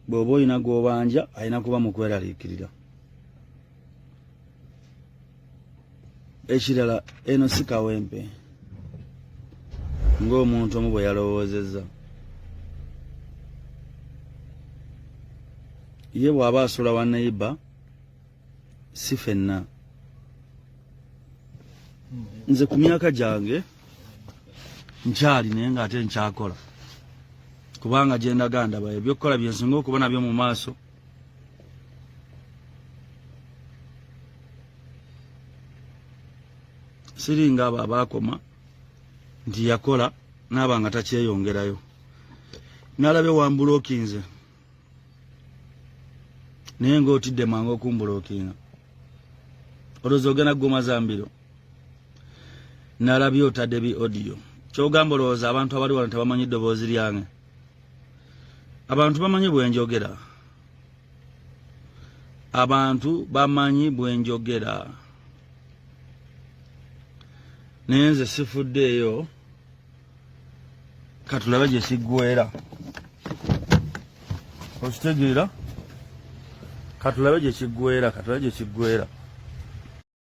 bw'oba olina gw'obanja alina kuba mu kweraliikirira ekirala eno si kawempe ng'omuntu omu bwe yalowoozezza ye bw'aba asula wa neyiba si fenna nze ku myaka gyange nkyali naye nga ate nkyakola kubanga gyendaga ndaba ebyokukola byensinga okuba nabyo mu maaso siringa abo abaakoma nti yakola naaba nga takyeyongerayo nalabe wambulokinze naye ngaotidde mangu okumbulokinga olowooza ogenda kuguma zambiro nalabye otadde bi audio kyogamba olowooza abantu abali wano tebamanyi ddoboozi lyange abantu bamanyi bwenjogera abantu bamanyi bwenjogera naye nze sifuddeeyo katulabe gye siggwera okitegeera katulabe gye kiggwera katulabe gye kiggwera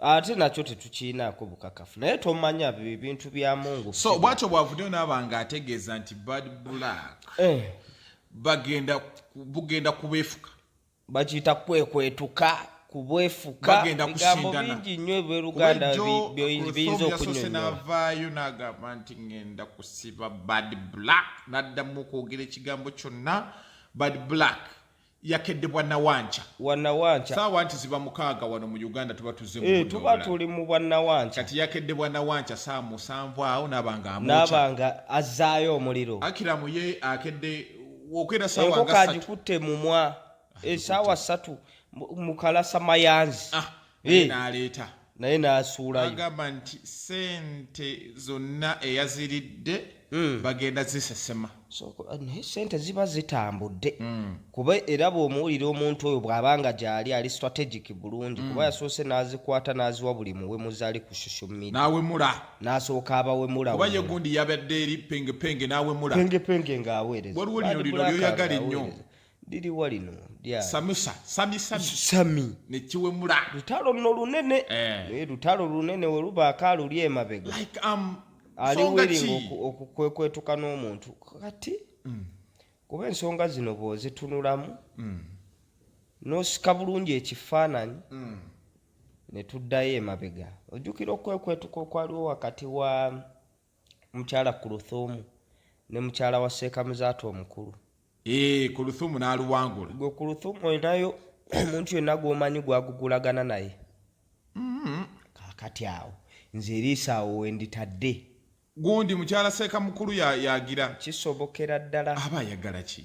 ate nakyo tetukiinaako bukakafu naye tomanya bintu bya mungu so bwatyo bwavuddeyo naaba nga ategeeza nti bad black eh. bagenda bugenda kubeefuka bakiyita kwekwetuka kubwefukabigambo bingi nnyo ebyoluganda biyinza okunyonyolanavaayo nagamba nti ngenda kusiba bad black naddamu okwogera ekigambo kyonna bad black yakedde bwa nawanca wa nawanca saawa nti ziba mukaaga wano mu uganda tuba tuzze mu Eh, tuba budde tuli mu bwa nawanca kati yakedde bwa nawanca saa musanvu awo naaba nga amwokya naaba nga azzaayo omuliro akiramu ye akedde okwera saawa enkoko nga satu agikutte mumwa esaawa ssatu mu- mukalasa mayanzi Ah, eh. n'aleeta naye n'asuulayo agamba nti sente zonna eyaziridde hmm. bagenda zisesema eh, naye sente ziba zitambudde hmm. kuba era bw'omuwulira omuntu oyo bw'aba nga gyali ali strategic bulungi kuba hmm. yasoose n'azikwata n'aziwa buli muwemuzi ali ku social media n'awemula n'asooka abawemula kuba ye gundi yabadde eri pengepenge n'awemula pengepenge ng'aweereza waliwo lino lino lyoyagala ennyo liriwa lino samusa sami sami sami nekiwemula lutalo luno lunene eh. naye lutalo lunene welubaako aluli emabega like, um, ali wiringa okukwekwetuka n'omuntu kati mm. kuba ensonga zino bwozitunulamu mm. nosika bulungi ekifaananyi mm. netuddayo emabega ojjukira okwekwetuka okwaliwo wakati wa mukyala kuluthumu ne mukyala wa seekamuzaata omukulu ee eh, kuluthumu n'aluwangula gwe kuluthumu olinayo omuntu yenna gw'omanyi gwagugulagana naye mm-hmm. kakati awo nze eriisa awo wenditadde gundi mukyala seeka mukulu yagira kisobokera ddala aba ayagala ki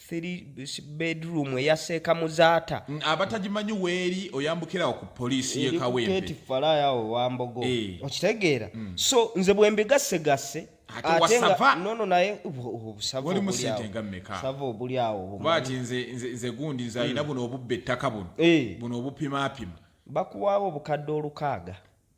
bedroom eya seeka muzaata abatagimanyi weeri oyambukirawo ku poliisi yekawempe falaayo awo wambogo eh. okitegeera mm. so nze bwembigassegasse nono naye obusava obuli awobati nze gundi nze alina mm. buno obubba ettaka buno eh. buno obupimapima bakuwaawo obukadde olukaaga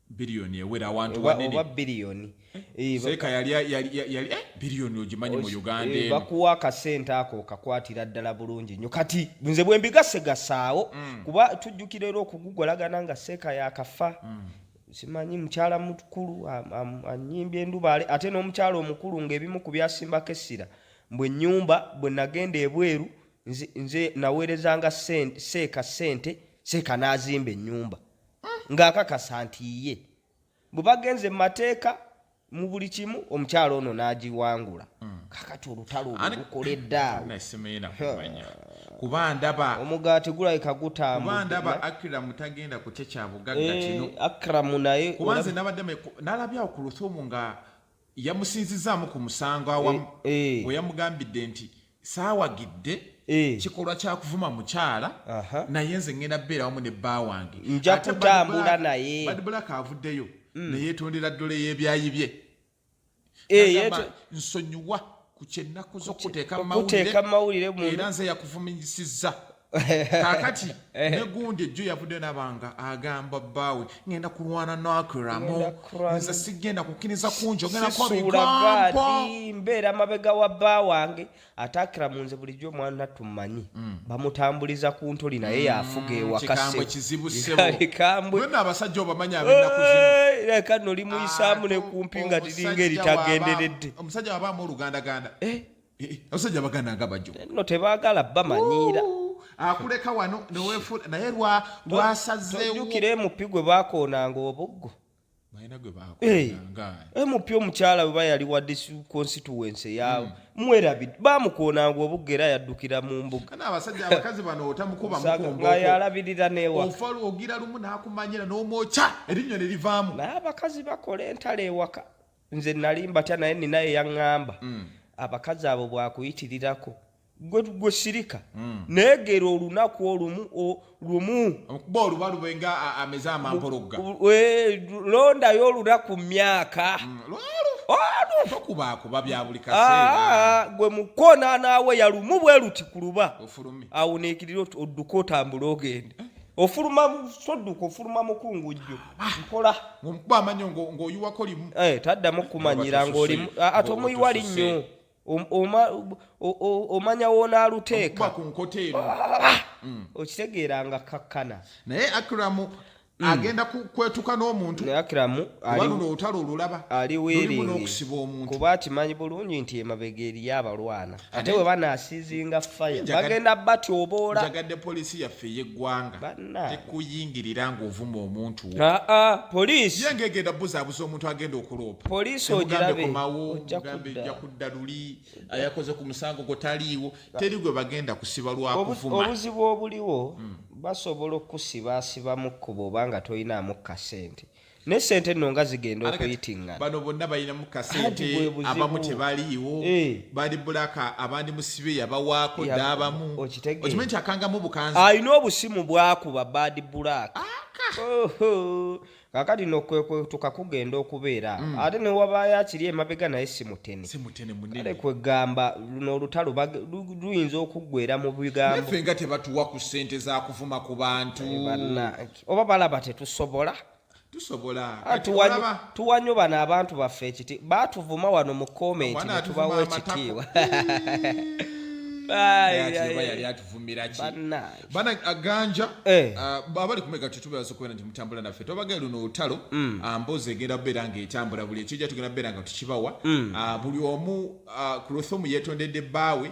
biliyoni ewera awantu wanene oba biliyoni eh, seeka yali yali eh, biliyoni ogimanyi mu uganda eh, bakuwa akasente ako okakwatira ddala bulungi nyo kati nze bwe mbigase gasaawo mm. kuba tujjukira era okugugolagana nga seeka yakafa mm. simanyi mukyala mukulu anyimbye endubaale ate n'omukyala omukulu ng'ebimu ku byasimbako essira mbu ennyumba bwe nagenda ebweru nze naweerezanga seeka sente seeka n'azimba ennyumba ng'akakasa nti ye bwe bagenze mu mateeka mu buli kimu omukyalo ono n'agiwangula hmm. kakati olutalo olukola eddaawekubandaba omugaati gulabika gutambudaba akramu tagenda kukye kya bugagga eh, kino akramu naye kubanze nabadde nalabyawo ku luthumu nga yamusinzizaamu ku musango awamu eh, eh. bwe yamugambidde nti saawagidde eh. kikolwa kyakuvuma mukyala naye nze ngenda beera wamu ne bba wange nja kutambula naye badbulaka avuddeyo mm. neyetondera ddole y'ebyayi bye nsonyiwa ku kyenaku zokuteeka mawulire era nze yakuvuminyisizza kakati eh. negundi ejjo yavudde nabanga agamba bbaawe ngenda kulwana nakiramu nze sigenda kukkiriza kunjo mbeera mabega wa bba wange ate akiramu nze bulijjo omwana tumanyi mm. bamutambuliza ku ntoli naye mm, yafuga ewakasebwenaabasajja obamanyi abenakuzireka nolimuyisaamu nekumpi nga tiringa eritagenderedde omusajja wabaamu olugandaganda eh? eh, eh, abasajja baganda nga bajo no tebagala bamanyiira akuleka wano newefula naye lwasazeewojukira emupi gwe bakoonanga obuggo emupi omukyala weba yali wa constituency yawe hmm. mwerabid bamukoonanga obuggo era yaddukira mu mbugayalabirira newaogira lumu nakumanyira nomwokya erinnyo ne livaamu naye abakazi bakola entalo ewaka nze nali mbatya naye nina eyaŋŋamba mm. abakazi abo bwakuyitirirako gwe gwe sirika mm. naye gera olunaku olumu lumu okuba oluba lube nga ameze amampologga londayo olunaku myaka mm, ah, gwe mukoona naawe yalumu bwe luti ku luba awuniikirira odduka otambule ogende eh? ofuluma sodduka ofuluma mukungujju mpola ngomukuba amanyo ng'oyiwako limu eh, taddamu kukumanyira ng'olimu ah, ate omuyiwa linnyo omanya wonaaluteeka ku nkota eno ah, mm. okitegeera nga kakkana naye akiramu Mm. agenda kwetuka n'omuntu ali weeringi kuba akimanyi bulungi nti emabega eriyo abalwana ate bwe banaasiizinga faya bagenda batyoboola njagadde poliisi yaffe ey'eggwanga tekuyingirira ng'ovuma omuntu wo ah, ah, poliisi ye ng'egenda buzaabuza omuntu agenda okuloopa poliisi ogirabekomawo mugambe ejja kudda luli ayakoze ku musango gwo taliiwo teri gwe bagenda kusiba lwakuvuma obuzibu obuliwo hmm. basobola okusibaasiba mu kkuba oba nga tolinaamu kasente ne sente nno nga zigenda okuyitingana bano bonna balinamu kasente abamu tebaliiwo eh. bali bulaka abandi musibe yabawaako dda abamu okimanyi nti akangamu bukanzi alina obusimu bwakuba badi bulaka kakati no kwetuka kugenda okubeera mm. ate newabaayo akiri emabega naye simutenekale kwegamba luno olutalo luyinza okuggwera mu bigambo nga tebatuwa ku sente zakuvuma ku bantu oba balaba tetusobola tusobola ah, tuwa nyo bano abantu baffe ekiti batuvuma wano mu komenti netubawa ekitiibwa yali atuvumiraki ganja eh. ah, abali kumega tetubebaza okubeera nti mutambula naffe tobagee luno olutalo mm. ah, mbozi egenda kubeera nga etambula buli ekijja tugenda kubeera nga tukibawa mm. buli omu kulosomu yetondedde bbaawe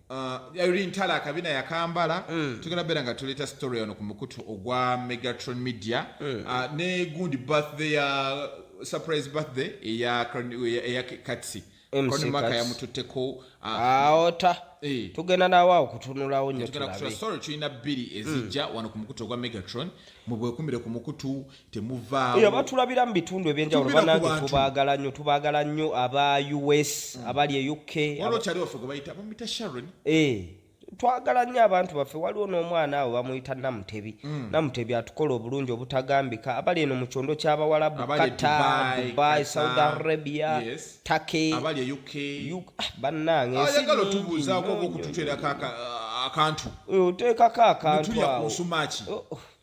olintala uh, akabina yakambala mm. tugenda beera nga tuleeta story ono ku mukutu ogwa megatron media mm. uh, ne gundi birthday ya uh, surprise birthday eya katsi mcmaka yamututteko aota ah, ah, eh. tugenda nawe awo kutunulawo nyo tulina bbiri ezijja hmm. wano ku mukutu ogwa megatron mubwekumbire ku mukutu temuvaawo batulabira mu bitundu ebyenjawulo banange tubaagala nnyo tubaagala nnyo aba us hmm. abali e uk walokyali waffe gwe bayita bamuyita sharon eh, twagala nnyo abantu baffe waliwo n'omwana awo bamuyita namutebi hmm. namutebi atukola obulungi obutagambika abali eno mu kyondo ky'abawalabu kata dubai saudi arabia take e ah, bannange ensiingi oteekako akantu oteekako akantu awo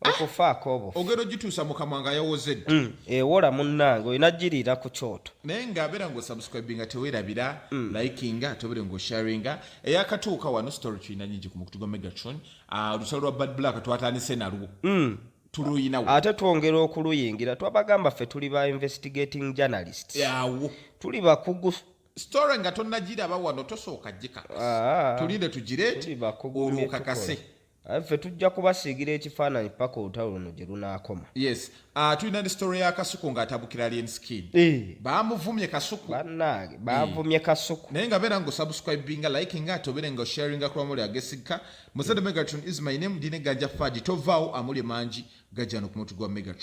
okufaako obufu ogenda ogituusa mu kamwa nga yawozedde mm. ewola eh, munnange olina giriira ku kyoto naye nga abeera nga osubscribinga tewerabira mm. likinga tobere nga osharinga eyakatuuka wano story tulina nyingi ku mukutu gwa megatron ah, olusalo lwa bad black twatandise nalwo mm. tuluyinawo ate twongera okuluyingira twabagamba ffe tuli ba investigating journalists yawo tuli bakugu story nga tonnagiraba wano tosooka gikakasa ah. tulinde tugireti olwokakase Aye ffe tujja kubasiigira ekifaananyi paka olutalo luno gye lunaakoma. Yes. Uh, tulina ndi story ya Kasuku ng'atabukira Alien Skin. Eh. Baamuvumye Kasuku. Bannange, baavumye eh. Kasuku. Naye nga beera ng'osubscribinga, likinga, ate obeere ng'osharinga kuba muli agesigika. Musada Megatron is my name, ndi ne Ganja Fadi. Tovaawo amuli mangi gajja no ku mutu gwa Megatron.